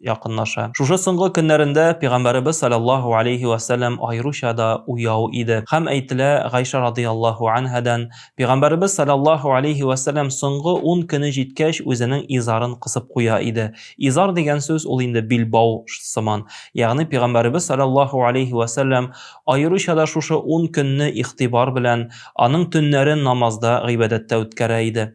якынлаша. Шушы соңгы көннәрендә Пигамбәребез саләллаһу алейһи вә сәләм аеруча да уяу иде. Хәм әйтелә Гайшә радыяллаһу анһәдән, Пигамбәребез саләллаһу алейһи вә сәләм соңгы ун көне җиткәч үзенең изарын кысып куя иде. Изар дигән сүз ул инде билбау сыман. Ягъни Пигамбәребез саләллаһу алейһи вә сәләм аеруча да шушы ун көнне игътибар белән, аның төннәрен намазда, гыйбадәттә үткәрә иде.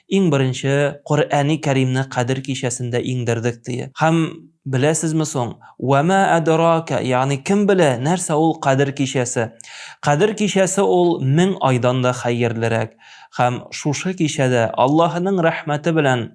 Иң беренче Коръәни Кәримне Кадер кичәсендә иңдердек, ди. Һәм, беләсезме соң, Вә мә әдеракә, ягъни кем белә, нәрсә ул Кадер кичәсе? Кадер кичәсе ул мең айдан да хәерлерәк. Һәм шушы кичәдә Аллаһының рәхмәте белән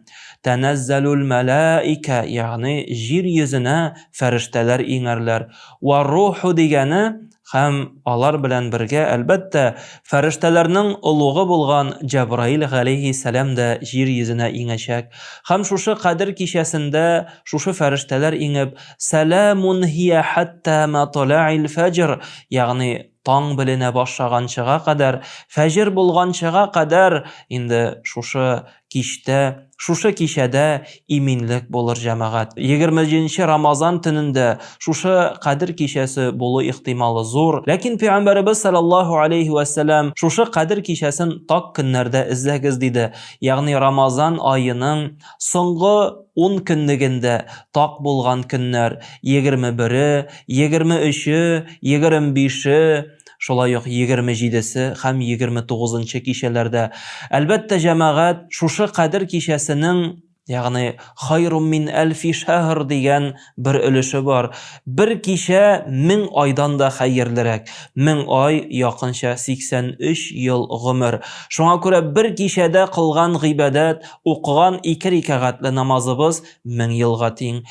Тәнәззәлүл мәләикә, ягъни җир йөзенә фәрештәләр иңәрләр. Вә руху дигәне Һәм алар белән бергә, әлбәттә, фәрештәләрнең олугы булган Җәбраил галәйһиссәлам дә җир йөзенә иңәчәк. Һәм шушы Кадер кичәсендә шушы фәрештәләр иңеп, Сәләмун һия хәттә маталә'ил фәҗр, ягъни таң беленә башаганчыга кадәр, фәҗер булганчыга кадәр, инде шушы кичтә, шушы кичәдә иминлек булыр, җәмәгать. Егерме җиденче Рамазан төнендә шушы Кадер кичәсе булу ихтималы зур. Ләкин Пәйгамбәребез салләллаһу алейһи вә сәлләм, Шушы Кадер кичәсен так көннәрдә эзләгез, диде. Ягъни Рамазан аеның соңгы ун көнлегендә так булган көннәр, егерме бере, егерме өче, егерем бише, Шулай ук егерме җидесе һәм егерме тугызынчы кичәләрдә. Әлбәттә, җәмәгать шушы Кадер кичәсенең, ягъни Хайрум мин әлфи шәһр дигән бер өлеше бар. Бер кичә мең айдан да хәерлерәк. Мең ай, якынча 83 ел гомер. Шуңа күрә бер кичәдә кылган гыйбадәт, укыган ике рикәгатле намазыбыз Мең елга тиң.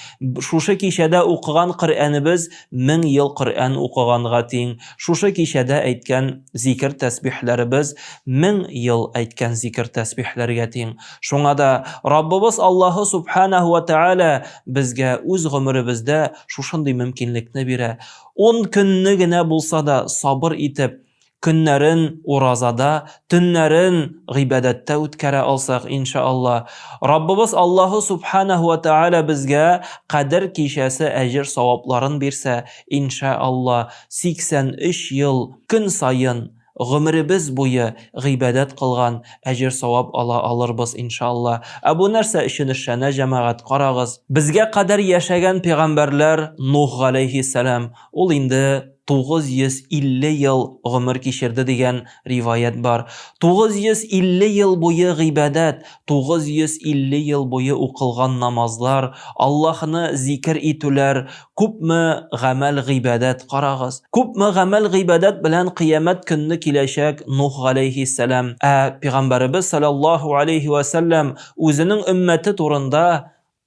Шушы кичәдә укыган Коръәнебез мең ел Коръән укыганга тиң. Шушы кичәдә әйткән зикер-тәсбихләребез мең ел әйткән зикер-тәсбихләргә тиң. Шуңа да Раббыбыз Аллаһы Сүбхәнәһү вә Тәгалә безгә үз гомеребездә шушындый мөмкинлекне бирә. Ун көнне генә булса да сабыр итеп, Көннәрен уразада, төннәрен гыйбадәттә үткәрә алсак, инша Алла, Раббыбыз Аллаһу Субханәһү вә Тәгалә безгә Кадер кичәсе әҗер-савапларын бирсә, инша Алла, 83 ел көн саен, гомеребез буе гыйбадәт кылган әҗер-савап ала алырбыз, инша Алла. Ә бу нәрсә өчен эшләнә, җәмәгать, карагыз. Безгә кадәр яшәгән пәйгамбәрләр, Нух галәйһиссәлам, Ул инде 950 ел гомер кичерде дигән риваять бар. 950 ел буе гыйбадәт, 950 ел буе укылган намазлар, Аллаһыны зикер итүләр, күпме гамәл-гыйбадәт, карагыз. Күпме гамәл-гыйбадәт белән кыямәт көнне киләчәк Нух галәйһиссәлам. Ә Пигамбәребез салләллаһу аләйһи вә сәлләм үзенең өммәте турында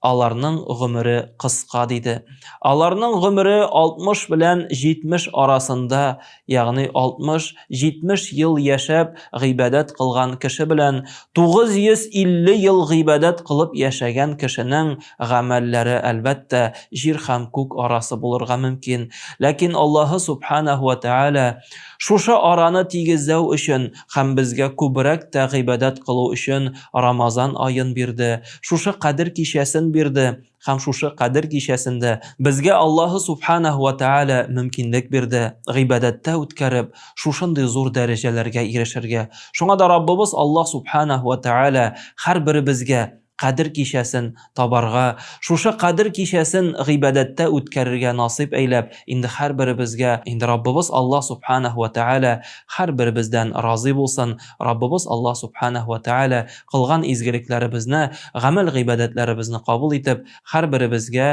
Аларның гомере кыска, диде. Аларның гомере 60 белән 70 арасында, ягъни 60-70 ел яшәп, гыйбадәт кылган кеше белән 950 ел гыйбадәт кылып яшәгән кешенең гамәлләре, әлбәттә, җир һәм күк арасы булырга мөмкин. Ләкин Аллаһы Сүбхәнәһү вә Тәгалә шушы араны тигезләү өчен Һәм безгә күбрәк тә гыйбадәт кылу өчен Рамазан аен бирде, шушы Кадер кичәсен бирде, һәм шушы Кадер кичәсендә безгә Аллаһы Субханәһү вә Тәгалә мөмкинлек бирде, гыйбадәттә үткәреп, шушындый зур дәрәҗәләргә ирешергә. Шуңа да Раббыбыз Аллаһ Субханәһү вә Тәгалә һәрберебезгә Кадер кичәсен табарга, шушы Кадер кичәсен гыйбадәттә үткәрергә насыйп әйләп, инде һәрберебезгә, инде Раббыбыз Аллаһ Субханаһу вә Тәгалә һәрберебездән разый булсын, Раббыбыз Аллаһ Субханаһу вә Тәгалә кылган изгелекләребезне, гамәл-гыйбадәтләребезне кабул итеп, һәрберебезгә